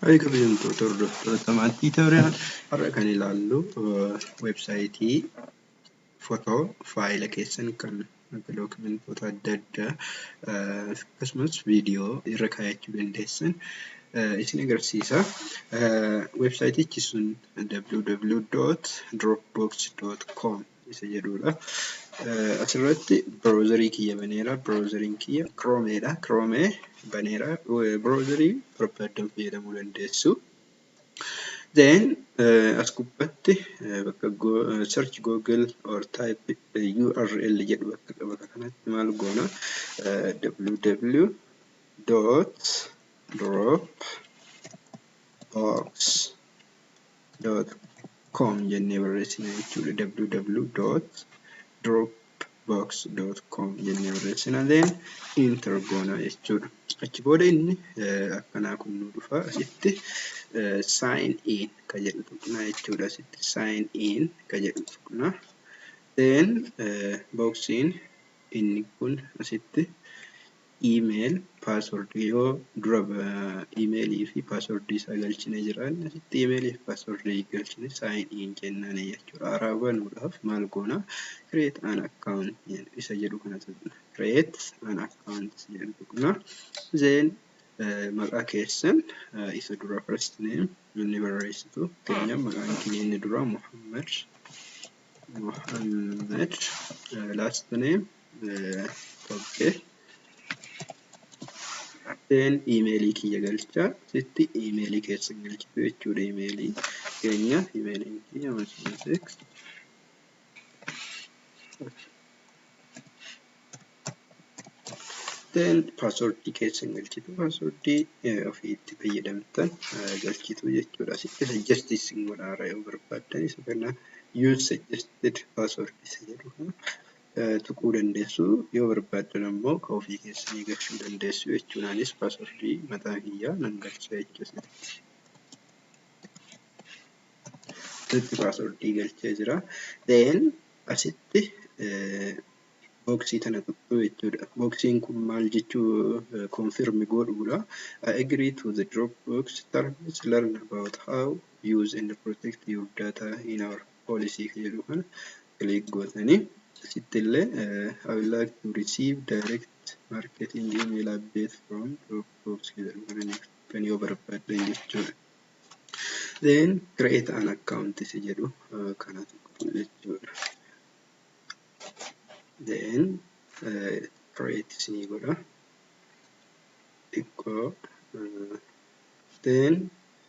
Hayi kabajamtoota hordoftoota maatii Tooriyaan har'a kan ilaallu weebsaayitii footoo faayila keessan kan akka dookimentoota adda addaa akkasumas viidiyoo irra kaayachuu dandeessan isin agarsiisa. Weebsaayitichi sun www.dropbox.com isa jedhuudha. Asirratti browserii kiyya baneera. Browseriin kiyya Chrome dha. Chrome baneera. Browserii barbaaddan fayyadamuu dandeessu. Then as gubbatti bakka search google or type URL jedhu bakka qaba kanatti maal goona www dot drop box com jennee barreessina jechuudha www.dropbox.com jennee barreessina then enter goona jechuudha achi booda inni akkanaa kun nu dhufa asitti sign in ka jedhu tuqna jechuudha asitti sign in ka jedhu tuqna then boksiin inni kun asitti Email password yoo dura email fi password isaa galchine jiraan asitti email fi password galchine sign in jennaan jechuudha haaraa banuudhaaf maal goona create an account isa jedhu kana tuqna create an account jedhu tuqna then maqaa keessan isa dura first name inni barreessitu keenya maqaan kiyya inni dura Muhammad Muhammad last name Okay. Seen iimeelii kiyya galcha. Sitti iimeelii keessa galchitu jechuudha iimeelii keenya iimeeliin kiyya masiiseek. Seen paaswordii keessa galchitu paaswordii ofii itti fayyadamtan galchitu jechuudha. Sitti sajjastii sin godhaara yoo barbaaddan isa kana use suggested password isa jedhu kana. tuquu dandeessu yoo barbaaddan ammoo ka ofii keessanii galchuu dandeessu jechuun anis passwordii mataa kiyyaa nan galcha jechuu asitti asitti passwordii galchee jira then asitti booksii tana tuqxuu jechuudha booksiin kun maal jechuu confirm godhuudha I agree to the Dropbox terms learn about how use and protect your data in our policy ka jedhu kana click gootanii asitti illee I would like to receive direct marketing email update from Dropbox ka jedhu kana ni kan yoo barbaaddan jechuudha. Then create an account si jedhu kana tuqxu jechuudha. Then create isinii godha. Xiqqoo then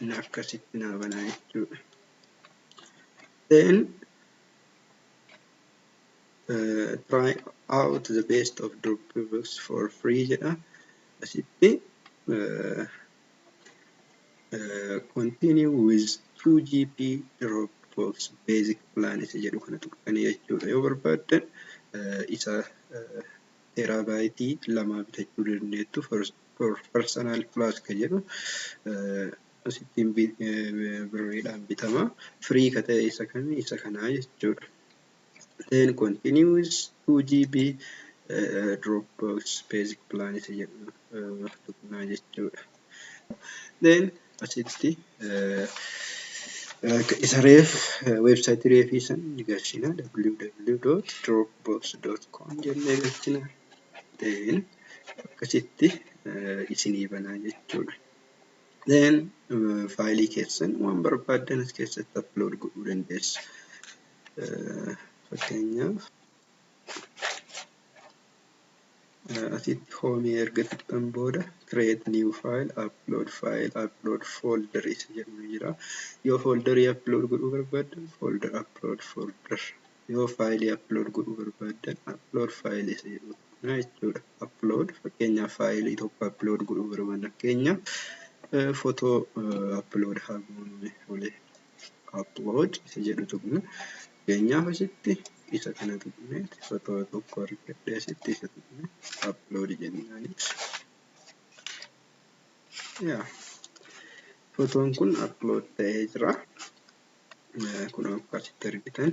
Inni akkasitti naa banaa jechuudha. Then uh, try out the best of Dropbox for free jedha. Asitti uh, uh, continue with 2 GB Dropbox basic plan isa jedhu kana tuqxanii jechuudha. Yoo barbaaddan uh, isa uh, teraabaaytii lamaa bitachuu dandeettu first for personal plus ka jedhu asittiin birriidhaan bitama free ka ta'e isa kami isa kanaa jechuudha then continues 2GB Dropbox basic plan isa jedhu tuqnaa jechuudha then asitti isa reef website reefii san ni galchina www.dropbox.com jennee galchina then akkasitti isinii banaa jechuudha. Then faayilii keessan waan barbaaddan as keessatti upload godhuu dandeessu. Fakkeenyaaf asitti hoomii erga tuqxan booda create new file, upload file, upload folder isa jedhu jira. Yoo folderii upload godhuu barbaaddan folder upload folder. yoo faayilii upload godhuu barbaaddan upload faayilii isa jedhu tuqna jechuudha. Upload fakkeenyaaf faayilii tokko upload godhuu barbaadna fakkeenyaaf fotoo upload haa goonu olee upload isa jedhu tuqna fakkeenyaaf asitti isa kana tuqne fotoo tokko argadhe asitti isa tuqne upload jennaan yaa fotoon kun upload ta'ee jira. kunoo akka asitti argitan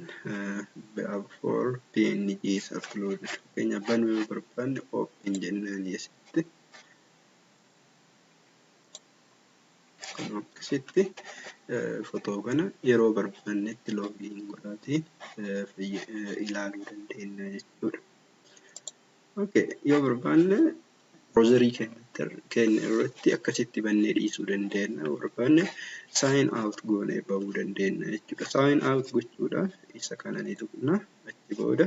before png is uploaded fakkeenyaaf banuu yoo barbaanne open jennaan asitti kunoo akkasitti fotoo kana yeroo barbaannetti loogiin godhaatii ilaaluu dandeenya jechuudha. Okay, yoo barbaanne Browser keenya irratti akkasitti bannee dhiisuu dandeenya. Barbaanne sign out goonee bahuu dandeenya jechuudha. Sign out gochuudhaaf isa kana ni tuqna. Achi booda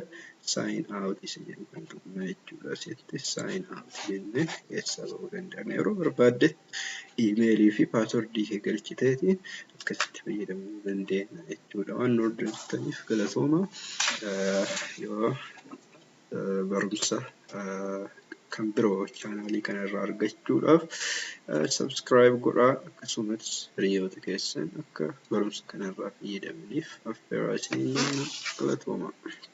sign out isa jedhu kan tuqna jechuudha. Asitti sign out jennee keessaa bahuu dandeenya. Yeroo barbaadde iimeelii fi paaswordii kee galchiteeti akkasitti fayyadamuu dandeenya jechuudha. Waan nu hordoftaniif galatooma. Yoo barumsa kan biroo chaanaalii kana irraa argachuudhaaf subscribe godhaa akkasumas hiriyoota keessan akka barumsa kana irraa fayyadamaniif affeeraa isiniin galatoomaa.